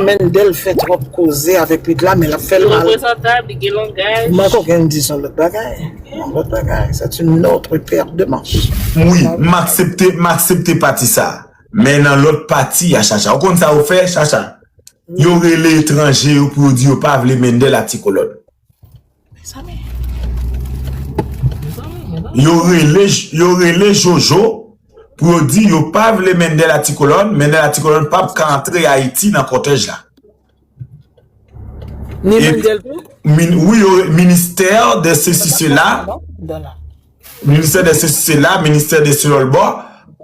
Mendel fè trop koze avèk pit la men lap fèl mal. Reprezantab, li gen langaj. Manko gen di son lot bagay. Yon lot bagay. C'est une autre paire de manches. M wi, m aksepte, m aksepte pati sa. Men nan lòt pati a Chacha, ou konn sa yo fè Chacha? Yo rele etranje yo pou yo di yo pa vle Mendel ak Ti Kolòn. Yo rele yo rele jojo pou yo di yo pa vle mendel a ti kolòn mendel a ti kolòn pap ka antre ayiti nan kòtèj la ni mendel tou min wi yo ministè de se si se la ministè de se si se la ministè de se lòl bò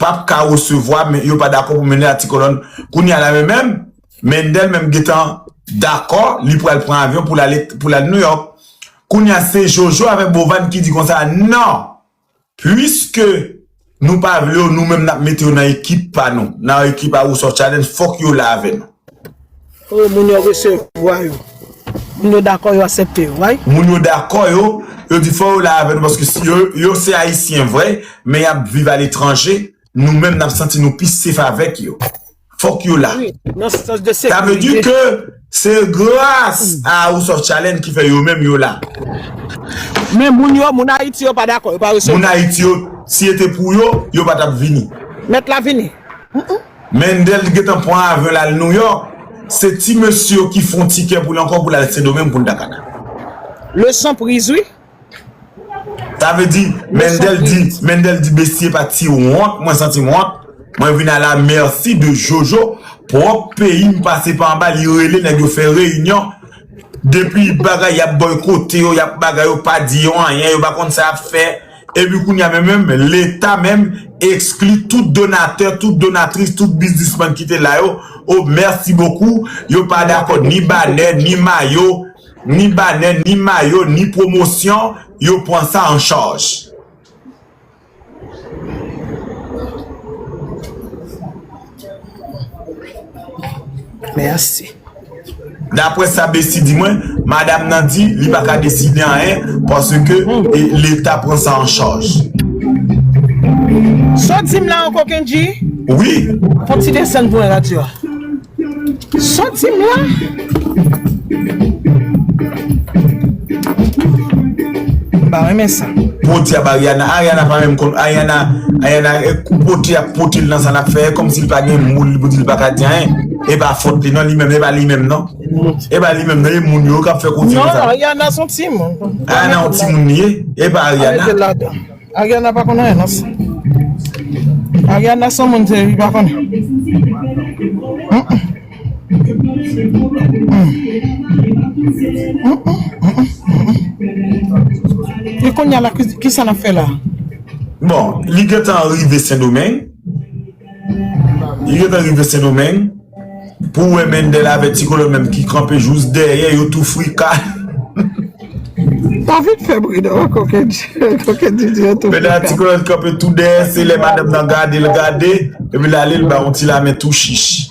pap ka resevwa men yo pa dakò pou mendel a ti kolòn kounye a la men menm Mendel menm gentan dakò li pral pran avyon pou l ale pou l al New York kounya se Jojo avèk Bovany ki di konsa nan puiske nou pa vle yo nou menm nap mete yo nan ekip pa nou nan ekip a Rousov Challenge fòk yo la avè nou. Oh moun yo resevwa yo. Moun yo dakò yo asèpte yo wi. Moun yo dakò yo yo di fò yo la avè nou paske si yo yo se ayisyen vre men yap viv aletranje nou menm nap santi nou pi sef avèk yo. fok yo la. Sa vle di ke se gras a House of Challenge ki fè yo menm yo la. Men moun yo, moun Ayiti yo pa dakò, yo pa resevwa. Moun Ayiti yo, si e te pou yo, yo pa tap vini. Mèt la vini. Mendel t gentan pran avyon l al New York, se ti mesye yo ki fon tikè pou l ankò pou l al Sendomeng pou l ta ka nan. Leson priz wi. Sa vle di Mendel di Mendel di bestie pati wont mwen santim wont mwen vin ala merci de jojo prop peyim pase pa anba li rele nèg yo fè reyinyon depi bagay yap boykote yo yap bagay yo pa di yo anyen yo pa konn sa yap fè epi kounya menm menm leta menm ekskli tout donatè tout donatris tout biznisman kite la yo oh merci beaucoup yo pa dakò ni banè ni mayo. Ni banè, ni mayo, ni pwomosyon, yo pwan sa an chaj. Mèsi. Dapwè sa Besi di mwen, madam nan di li pa ka deside anyen paske leta pwan sa an chaj. Sa w di m la anko Kendji? Wi. Fon ti desann pwen radyo a. Soti m la! M pa renmen sa. Podyab Ariana, Ariana pa menm konn, Ariana, Ariana kou pote yap potel nan sa nap fè e kòmsi li pa gen moun li pou dil paka di anyen, e pa fòt li nan li menm, e pa li menm nan, e pa li menm nan e moun yo kap fè koze konsa. Non Ariana son timoun. Ariana yon timoun li ye, e pa Ariana. Ariana pa konn anyen nan sa. Ariana son moun se li pa konn. E konnya la kisa nap fè la. Bon li gentan rive sendomeng. Li gentan rive sendomeng pou wè mendel avè ti kolo menm ki kanpe jous dèyè yo tou frika. David fè bri non koken di di yo tou frika. Mena ti kolo kanpe tou dèyè se lè madanm nan gadel gade epi lale li ba yon ti lamen tou chich.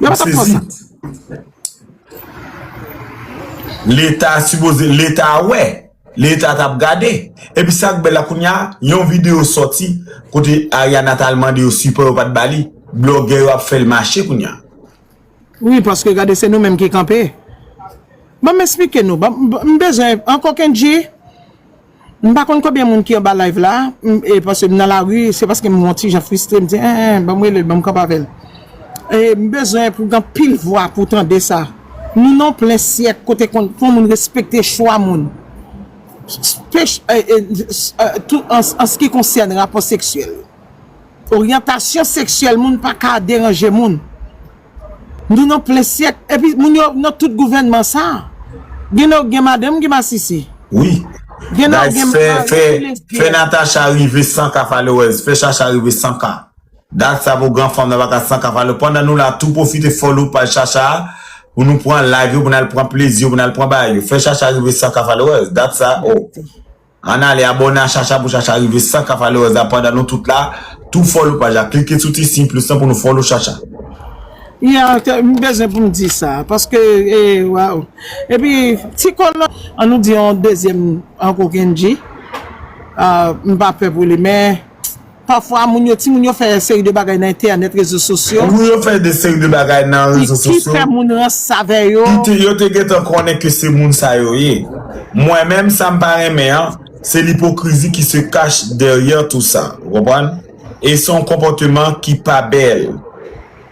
Yo patap pran sa. Leta sipoze, leta wè, leta tap gade. Epi sak bèl la kounya, yon video soti kote Ariana tal mande yo sipò yo pat bali. Blogè yo ap fèl mache kounya. Wi paske gade se nou menm ki kanpe. Banm esplike nou, m bezwen ankò Kendjy. M pa konn konbyen moun ki anba live la e paske m nan lari se paske m yon ti jan fristre m di enh banm relel banm kanpe avèl e m bezwen pou gen anpil vwa pou tande sa nou nan yon plen syèk kote konn fò moun respekte chwa moun tou anse ki konsène rapò seksyèl oryantasyon seksyèl moun pa ka deranje moun. Nou nan plen syèk epi moun yo nan tout gouvènman sa gen nan yo k gen madanm ki masisi. Wi Guys fè fè fè Natacha rive san kafalewèz fè Chacha rive san ka Dag sa pou gran fanm nan pa ka san kafalewèz pandan nou la tou pwofite follow paj Chacha a pou nou pran live yo pou nal pran plezi yo pou nal pran bagay yo fè Chacha rive san kafalewèz Dag sa oh. Ann ale abòne a Chacha pou Chacha rive 100 k followers la pandan nou tout la tou follow paj la klike sou ti siy plis lan pou nou follow Chacha. Yeah m bezwen pou m di sa paske waww epi ti kolòn. An nou di yon dezyèm ankò Kendjy m pa pè pou li men. Pafwa moun yo, timoun yo fè yon seri de bagay nan entènèt, rezo sosyo. Wi yo fè de seri de bagay nan rezo sosyo. Ki fè moun rans avè yo. Ki yo te gentan konnen ke se moun sa yo ye. Mwen menm sa m pa renmen an, se lipokrizi ki se kach dèryè tou sa. Ou konprann? E se yon konpòteman ki pa bèl.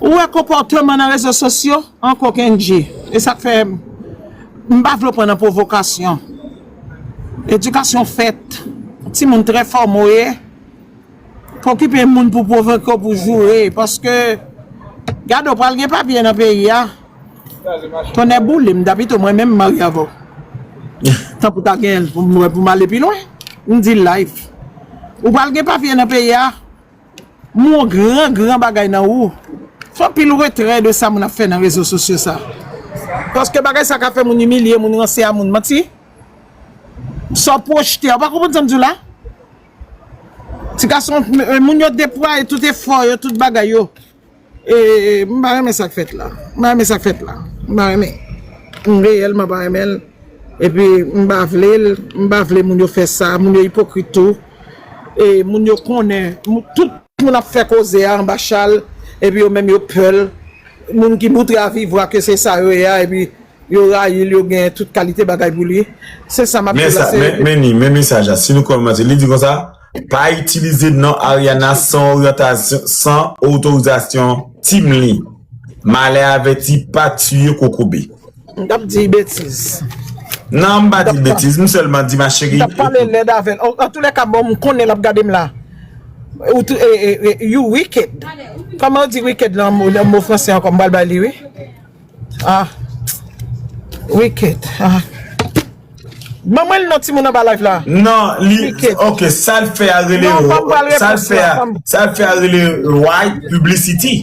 Ou wè konpòteman nan rezo sosyo ankò Kendjee. E sak fè m pa vle pran nan pwovokasyon. Edikasyon fèt. Timoun trè fòme w ye. Pa okipe moun pou pwovoke w pou joure. Paske gade w pral gen papye nan peyi a. Tonnè boule m ta pito mwen menm marye avè w. Tankou ta gen pou m ale pi lwen. M di l live. Ou pral gen papye nan peyi a. M wè w gran gran bagay nan ou. Fè anpil retrè de sa moun ap fè nan rezo sosyo sa. Paske bagay sa ka fè moun imilye moun ranse a moun manti. Sa w pwojte a. Ou pa konprann sa m di w la? Ti gason moun yo deplwaye tout efò yo tout bagay yo. Eee m pa renmen sak fèt la m pa renmen sak fèt la m pa renmen m reyèlman pa renmen l epi m pa vle l m pa vle moun yo fè sa moun yo ipokrit tou e moun yo konnen tout moun ap fè koze a anba chal epi yo menm yo pè l moun ki moutre a viv vwa ke se sa yo ye a epi yo rayi l yo gen tout kalite bagay pou li se sa m ap di la se. Men sa men men ni men mesaj la si nou kòmanse li di konsa. Pa itilize non Ariana san oryantasyon san otorizasyon team li. Malè avèti pa tiye kokobe. M tap di betiz. Nan m pa di betiz m selman di ma cheri. M tap pale lèd avèl. Antoulèka bon m konnen lap gadem la. You wicked. Koman yo di wicked lan mo franse ankò m pral bay li wi. Ah Wicked ah Ban mwen non timoun anba live la Nan li ok sal fè a rele Sal fè a sal fè a rele Ray publicity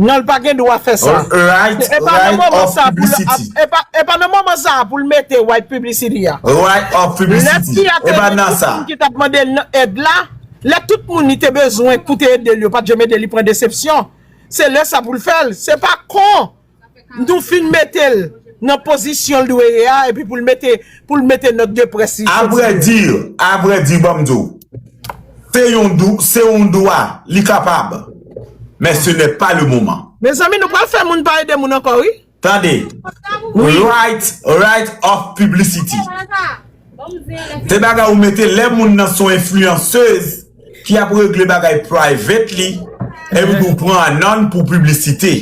Nan l pa gen dwa fè sa Ray publicity E pa nan moman sa pou l mete Ray publicity a Ray publicity E pa nan sa Lè tout moun ki tap mande l nan èd la Lè tout moun li te bezwen pou te ede l yo pat janm ede l li pran desepsyon. se lè sa pou l fè l, se pa kon n tou fin mete l nan pozisyon l dwe ye a epi pou l mete pou l mete nòt de près li soti. Avrè di, avrè di ban m di w, se yon dou, se yon dwa li kapab men se nè pa le moman. Mezanmi nou pral fè moun pa ede moun ankò wi. Tande, right right of publicity se bagay ou mete lè moun nan son influenceuse ki ap regle bagay privately epi pou pran anon pou publicite.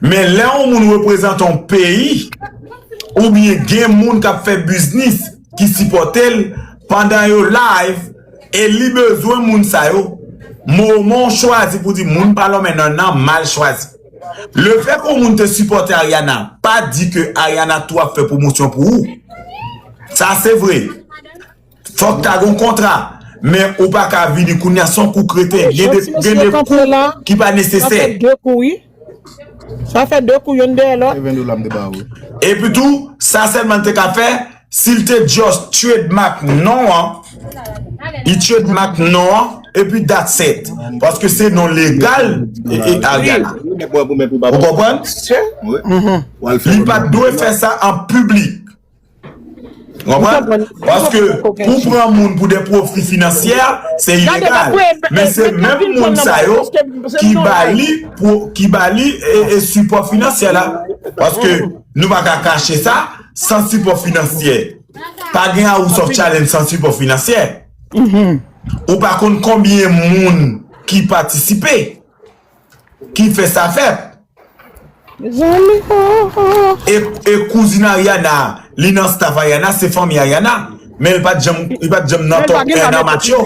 Men lè yon moun reprezante yon peyi oubyen gen moun kap fè biznis ki sipote l pandan yo live e li bezwen moun sa yo moman w chwazi pou di moun pa lonmen nan nan mal chwazi. Le fè ke w moun te sipòte Ariana pa di ke Ariana tou ap fè pwomosyon pou ou. Sa se vre. Fòk ta gen yon kontra. Men ou pa ka vini kounya se yon kou kreten. Gen de kou ki pa nesesè. Sa fè 2 kou youn dèyè lòt. Epi tou sa Selman te ka fè. Sil te just trademark non an, li trademark non an epi that's it. Paske se non legal e Ariel la. Ou konprann? Li pat dwe fè sa an piblik. Ou konprann? Paske pou pran moun pou de profi finansyè, se ilegal. Men se menm moun sa yo ki ba li ki ba li e support finansyè la. Paske nou pa ka kache sa. San sipò finansyè, pa gen House of Challenge san sipò finansyè. Ou pa konn konbyen moun ki patisipe, ki fè sa fèt. E kouzin Ariana, li nan staff Ariana, se fanmi Ariana, men li pa t janm nan top 1 amatyo.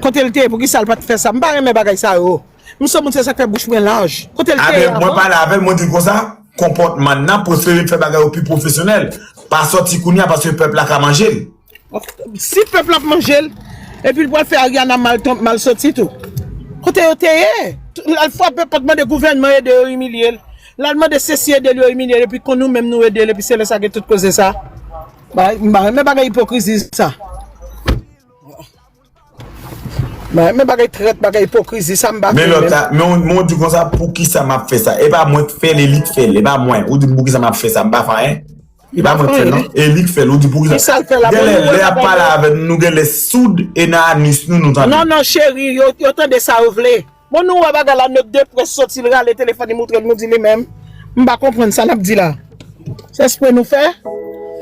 Kotel te ye poukisal pat fèsa m pa renmen bagay sa yo m soumoun se sak fè bouch mwen laj kotel te ye avan. Aprè mwen pale avèl mwen dil konsa konpòtman nan prefere fè bagay yo pi profesyonèl pa sòti kounya paske pèp la ka manjel. Si pèp la ap manjel epil pwal fè Ariana mal sòti tou kote yo te ye lal fwape pòt mande gouvènman ede yo imilyel lal mande sesi edel yo imilyel epi kon nou menm nou edel epi se lè sa gen tout koze sa m pa renmen bagay ipokrizi sa. Men bagay trèt, bagay ipokrizi sa m pa fè menm. Men ou di konsa poukisa m ap fè sa? E pa mwen k fè l e li k fè l. E pa mwen. Ou di m poukisa m ap fè sa m pa fè anyen. E pa mwen k fè l non. E li k fè l. Ou di poukisa. Ki sa l fè la pou nou? Genlè lè y ap pale avè nou nou genlè soud e nan anus nou nou tande. Non non cheri yo tande sa yo vle. Bon nou wè bagay la nèg de près soti l rale telefòn li moutre l nou di li menm m pa konprann sa lap di la se espre nou fè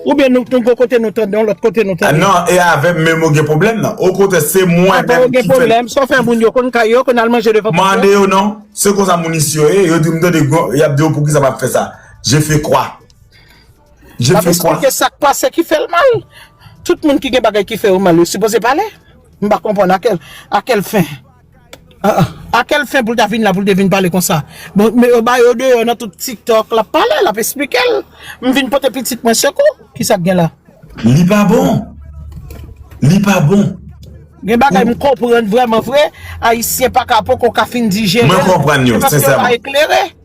oubyen nou gon kote nou tande yon lòt kote nou tande. Non e avèm menm ou gen pwoblèm nan okontrè se mwen menm ki fè. Apa ou gen pwoblèm sa w fè moun yo konn kay yo konn al manje devan pòt yo. Mande yo non se konsa moun isi yo ye yo di m tande yap di yo poukisa map fè sa je fais quoi je fais quoi. Lap esplike sak pase ki fè l mal tout moun ki gen bagay ki fè yo mal yo sipoze pale m pa konprann a kèl fin. A kel fen poul ta vin la poul te vin pale konsa bon me yo ba yo deyò nan tout tiktok lap pale lap esplikel m vin pote pitit mwen sekou kisa k gen la. Li pa bon Li pa bon. Gen bagay m konprann vrèman vre ayisyen paka poko ka fin dijerel se paske yo pa eklere.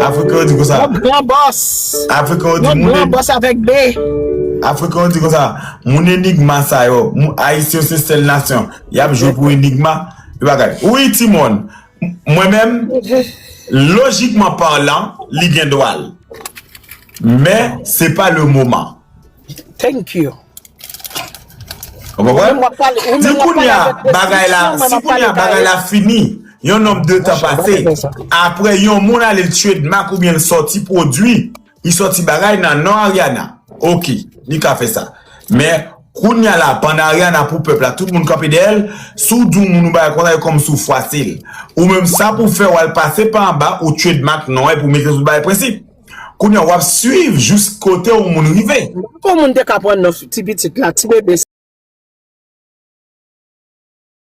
Afriken yo di konsa. Yon gran bòs. Afriken yo di moun. Yon gran bòs avèk B. Afriken yo di konsa. Moun enigma sa yo. Ayisyen yo se sèl nasyon. Y ap jwe pou enigma. Yo pa kay. Wi ti moun. Mwen menm. Lojikman parlan. Li gen dwa l. Men se pa le moman. Thank you. Ou konprann? Di kounye a bagay la, si kounye a bagay la fini, yon nonb de tan pase, apre yon moun ale l trademark oubyen l sòti pwodui, li sòti bagay nan non Ariana, ok, li ka fè sa. Men, kounye a la, pandan Ariana pou pèp la, tout moun kanpe dèyè l, si w di yon moun yon bagay konsa, yo kòmanse w fwase l. Ou menm sa pou w fè, w al pase pa anba, ou trademark non an epi w mete sou l bagay prensip. Kounya wap swiv jous kote yon moun rive. M pa kwè moun te ka pran non ti pitit la, ti bebe sa.